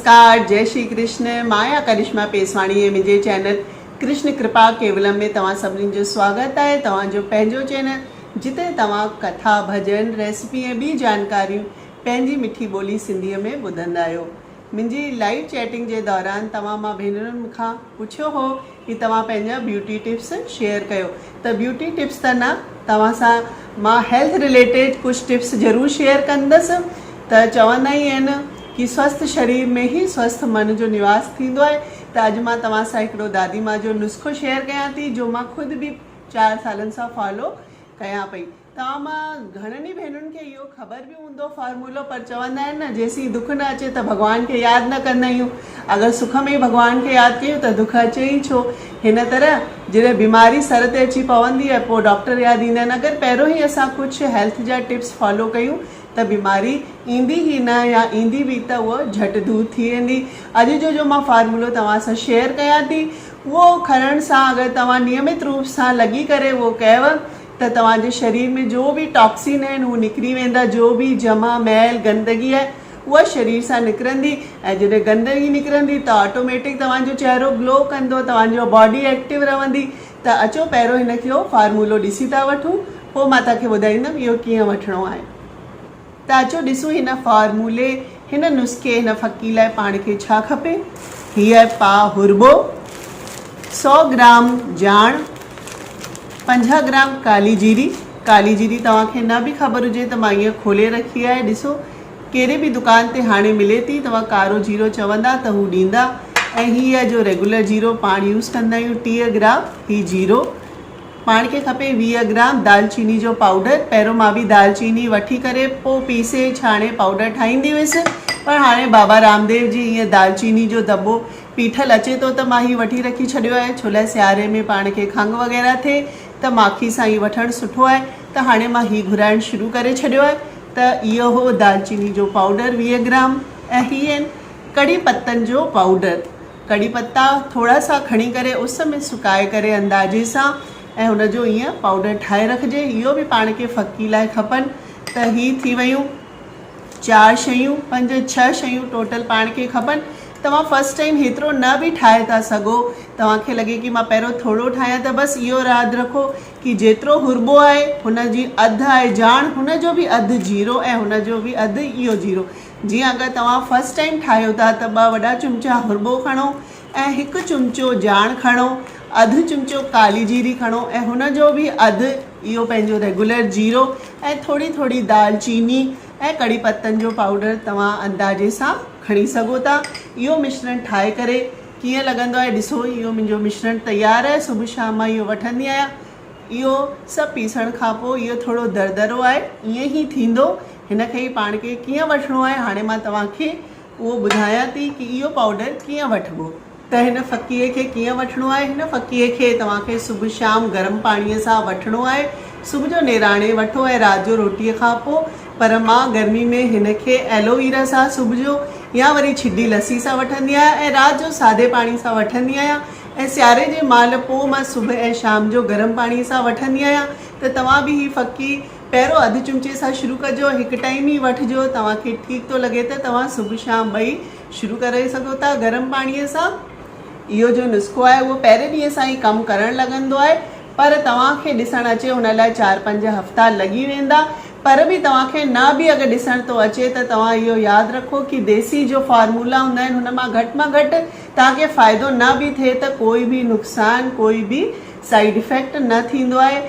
نمسڪار جئي شري ڪرشن مايا ڪرشما پيسواڻي ۽ منهنجي چينل ڪرشن ڪرپا ڪيولم ۾ توهان سڀني جو سواگت آهي توهان جو پنهنجو چينل جتي توهان ڪٿا ڀڄن ريسپي ۽ ٻي جانڪاريون پنهنجي مٺي ٻولي سنڌي ۾ ٻڌندا آهيو منهنجي لائيو چيٽنگ جي دوران توهان مان ڀينرن مونکان پڇيو هو ڪي توهان پنهنجا بيوٽي ٽپس شيئر ڪيو ته بيوٽي ٽپس ته نه توهان سان مان هيلٿ رليٽيڊ ڪجهه ٽپس ضرور شيئر ڪندس ته چوندا ئي آهن ڪي سوسٿ شرير ۾ هي سوسٿ من جو نواس ٿيندو آهي ته اڄ مان توهان سان هڪڙو دادي ماء جو نسخو شيئر ڪيان ٿي جو مان خود به چار سالن سان فالو ڪيان پئي. توهان مان گهڻن ئي ڀينرن کي اهو خبر به هوندو فارمولو پر چوندا آهن نه جيسين دک نه اچي ته ڀڳوان کي ياد نه ڪندا آهيون اگر سک ۾ ئي ڀڳوان کي ياد ڪيون ته دک اچي ئي ڇو هن طرح جڏهن بيماري سر تي اچي پوندي آهي پوء ڊاڪٽر ياد ايندا آهن اگر پهريون ئي اسان ڪجهه هيلٿ جا ٽپس فالو ڪيون ته بيماري ايندي ئي نه يا ايندي به ته اهو جهٽ دور ٿي ويندي اڄ جو جو مان فارمولو توهان سان شيئر ڪيان ٿي اهو کڻڻ سان اگر توهان نيمت روپ سان لڳي ڪري اهو ڪيو ته توهان جي شرير ۾ جو به ٽاڪسين آهن هو نڪري ويندا جو به جمع ميل گندگي آهي اها شرير سان نڪرندي ۽ جڏهن گندگي نڪرندي ته آٽوميٽڪ توهان جو چهرو گلو ڪندو توهان جو باڊي ايڪٽو رهندي ته اچو پهريون هن کي اهو فارمولو ڏسي ٿا وٺون پوء مان توهان کي ٻڌائيندم اهو ڪيئن وٺڻو آهي. ته اچو ڏسون هن فارمولي، هن نسخي، هن ڦڪي لاء پاڻ کي ڇا کپي. هيء پاء هرٻو، سؤ گرام جاڻ، پنجاهه گرام ڪالي جيري، ڪالي جيري توهان کي نه به خبر هجي ته مان هيء کولي رکي آهي، ڏسو ڪهڙي به دڪان تي هاڻي ملي ٿي، توهان ڪارو جيرو چوندا ته هو ڏيندا ۽ هيء جو ريگولر جيرو پاڻ يوز ڪندا آهيون ٽيهه گرام هي جيرو، پاڻ کي کپي ويهه گرام دال چيني جو پائوڊر پهريون مان به دال چيني وٺي ڪري پو پيسي ڇاڻي پائوڊر ٺاهيندي هيس پر هاڻي بابا رامديو جي ايئن دال چيني جو دٻو پيٺل اچي ٿو ته مان هي وٺي رکي ڇڏيو آهي ڇولاء سياري ۾ پاڻ کي کنگ وغيره ٿئي ته ماکي سان هي وٺڻ سٺو آهي ته هاڻي مان هي گهرائڻ شروع ڪري ڇڏيو آهي ته اهو هو دال چيني جو پائوڊر ويهه گرام ۽ هي ڪڙي پتن جو پائوڊر. ڪڙي پتا ٿورا سا کڻي ڪري اس ۾ سڪائي ڪري اندازي سان ۽ ان جو ائين پائوڊر ٺاهي رکجي. اهو به پاڻ کي ڦڪي لاء کپن ته هي ٿي ويون چار شيون پنج ڇهه شيون ٽوٽل پاڻ کي کپن. توهان فرسٽ ٽائيم هيترو نه به ٺاهي ٿا سگهو. توهان کي لڳي ڪي مان پهريون ٿورو ٺاهيان ته بس اهو راد رکو ڪي جيترو هربو آهي هن جي اڌ آهي جاڻ هن جو به اڌ جيرو ۽ هن جو به اڌ اهو جيرو. جيئن اگر توهان فرسٽ ٽائيم ٺاهيو ٿا ته ٻه وڏا چمچا هربو کڻو ۽ هڪ چمچو جاڻ کڻو اڌ چمچو ڪالي جيري کڻو ۽ هن جو به اڌ اهو پنهنجو ريگولر جيرو ۽ ٿوري ٿوري دال چيني ۽ ڪڙي پتن جو پائوڊر توهان اندازي سان کڻي سگهو ٿا اهو مشرڻ ٺاهي ڪري ڪيئن لڳندو آهي ڏسو اهو منهنجو مشرڻ تيار آهي صبح شام مان اهو وٺندي آهيان اهو سڀ پيسڻ کانپو اهو ٿورو در درو آهي ائين ئي ٿيندو هن کي ئي پاڻ کي ڪيئن وٺڻو آهي هاڻي مان توهان کي اهو ٻڌايان ٿي ڪي اهو پائوڊر ڪيئن وٺبو ته هن ڦڪيء کي ڪيئن وٺڻو آهي هن ڦڪيء کي توهان کي صبح شام گرم پاڻيء سان وٺڻو آهي صبح جو نيراڻي وٺو ۽ رات جو روٽيء کان پوء پر مان گرمي ۾ هن کي ايلوويرا سان صبح جو يا وري ڇڊي لسي سان وٺندي آهيان ۽ رات جو سادي پاڻي سان وٺندي آهيان ۽ سياري جي مهل پوء مان صبح ۽ شام جو گرم پاڻيء سان وٺندي آهيان ته توهان به هي ڦڪي پهريون اڌ چمچي سان شروع ڪجو، هڪ ٽائيم ئي وٺجو، توهان کي ٺيڪ ٿو لڳي ته توهان صبح شام ٻئي شروع ڪري سگهو ٿا گرم پاڻي سان، اهو جو نسخو آهي اهو پهرين ڏينهن سان ئي ڪم ڪرڻ لڳندو آهي پر توهان کي ڏسڻ اچي ان لاء چار پنج هفتا لڳي ويندا پر به توهان کي نه به اگر ڏسڻ ٿو اچي ته توهان اهو ياد رکو ڪي ديسي جو فارمولا هوندا آهن هن مان گهٽ مان گهٽ توهان کي فائدو نه به ٿئي ته ڪوئي به نقصان ڪوئي به سائيڊ افيڪٽ نه ٿيندو آهي.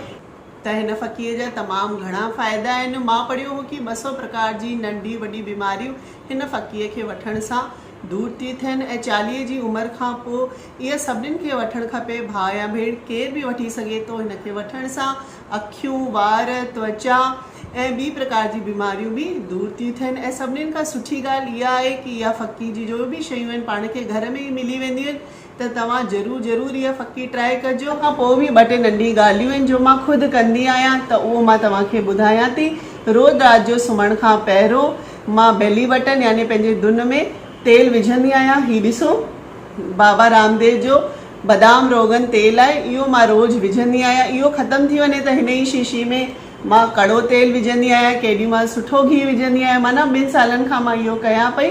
ته هن ڦڪيء جا تمام گهڻا فائدا آهن. مان پڙهيو هو ڪي ٻه سؤ پرڪار جي ننڍي وڏي بيماريون هن ڦڪيء کي وٺڻ سان دور ٿي ٿين ۽ چاليهه جي عمر کان پوء اها سڀنين کي وٺڻ کپي. ڀاء يا ڀيڻ ڪير به وٺي سگهي ٿو. هن کي وٺڻ سان اکيون، وار، توچا ۽ ٻي پرڪار جي بيماريون به دور ٿيون ٿين ۽ سڀنين کان سٺي ڳالهه اها آهي ڪي اها ڦڪي جي جو به شيون آهن پاڻ کي گهر ۾ ئي ملي وينديون آهن ته توهان ضرور ضرور اها ڦڪي ٽرائي ڪجو. کان پوء به ٻه ٽي ننڍيون ڳالهيون آهن جو مان خود ڪندي آهيان ته اهو مان توهان کي ٻڌايان ٿي. روز رات جو سمهڻ کان پهرون مان بيلي بٽن يعني پنهنجي دن ۾ تيل وجهندي آهيان. هي ڏسو بابا رامديو جو بدام روغن تيل آهي اهو مان روز وجهندي آهيان اهو ختم ٿي وڃي ته هن ئي شيشي ۾ مان ڪڙو تيل وجهندي آهيان ڪيڏي مهل سٺو گهي وجهندي آهيان معنيٰ ٻن سالن کان مان اهو ڪيان پئي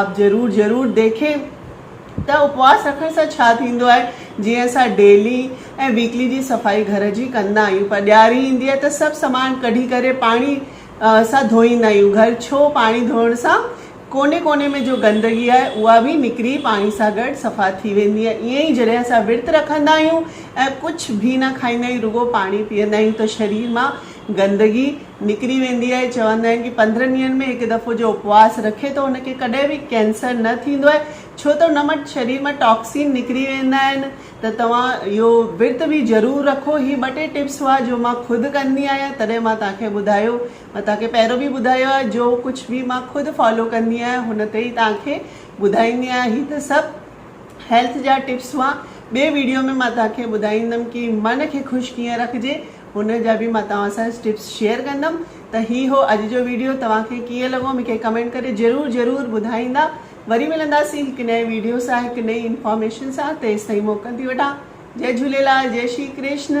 آپ ضرور ضرور ديکين ته اپواس رکڻ سان ڇا ٿيندو آهي جيئن اسان ڊيلي ۽ ويڪلي جي صفائي گهر جي ڪندا آهيون پر ڏياري ايندي آهي ته سڀ سامان ڪڍي ڪري پاڻي سان ڌوئيندا آهيون گهر ڇو پاڻي ڌوئڻ سان ڪوني ڪوني ۾ جو گندگي آهي اها به نڪري پاڻي سان گڏ صفا ٿي ويندي آهي ائين ئي جڏهن اسان ورت رکندا آهيون ۽ ڪجهه به نه کائيندا آهيون رڳو پاڻي پيئندا آهيون ته شرير مان گندگي نڪري ويندي آهي چوندا آهن ڪي پندرهن ڏينهن ۾ هڪ دفعو جو اپواس رکي ٿو ان کي ڪڏهن به ڪينسر نه ٿيندو آهي ڇو ته ان مان شرير مان ٽاڪسين نڪري ويندا آهن ته توهان اهو ورت به ضرور رکو هي ٻه ٽي ٽپس هئا جو مان خود ڪندي آهيان تڏهن مان توهان کي ٻڌايو مان توهان کي پهريون به ٻڌايو آهي جو ڪجهه به مان خود فالو ڪندي آهيان هن تي ئي توهان کي ٻڌائيندي آهيان هي ته سڀ هيلٿ جا ٽپس هئا ٻي ويڊيو ۾ مان توهان کي ٻڌائيندم ڪي من کي خوش ڪيئن رکجي ان جا به مان توهان سان ٽپس شيئر ڪندم ته هي هو اڄ جو ويڊيو توهان کي ڪيئن لڳو مون کي ڪمينٽ ڪري ضرور ضرور ٻڌائيندا وري ملنداسين هڪ نئين ويڊيو سان هڪ نئين انفارميشن سان تيستائين موڪل ٿي وٺان جئي جهوليلال جئي شري ڪرشن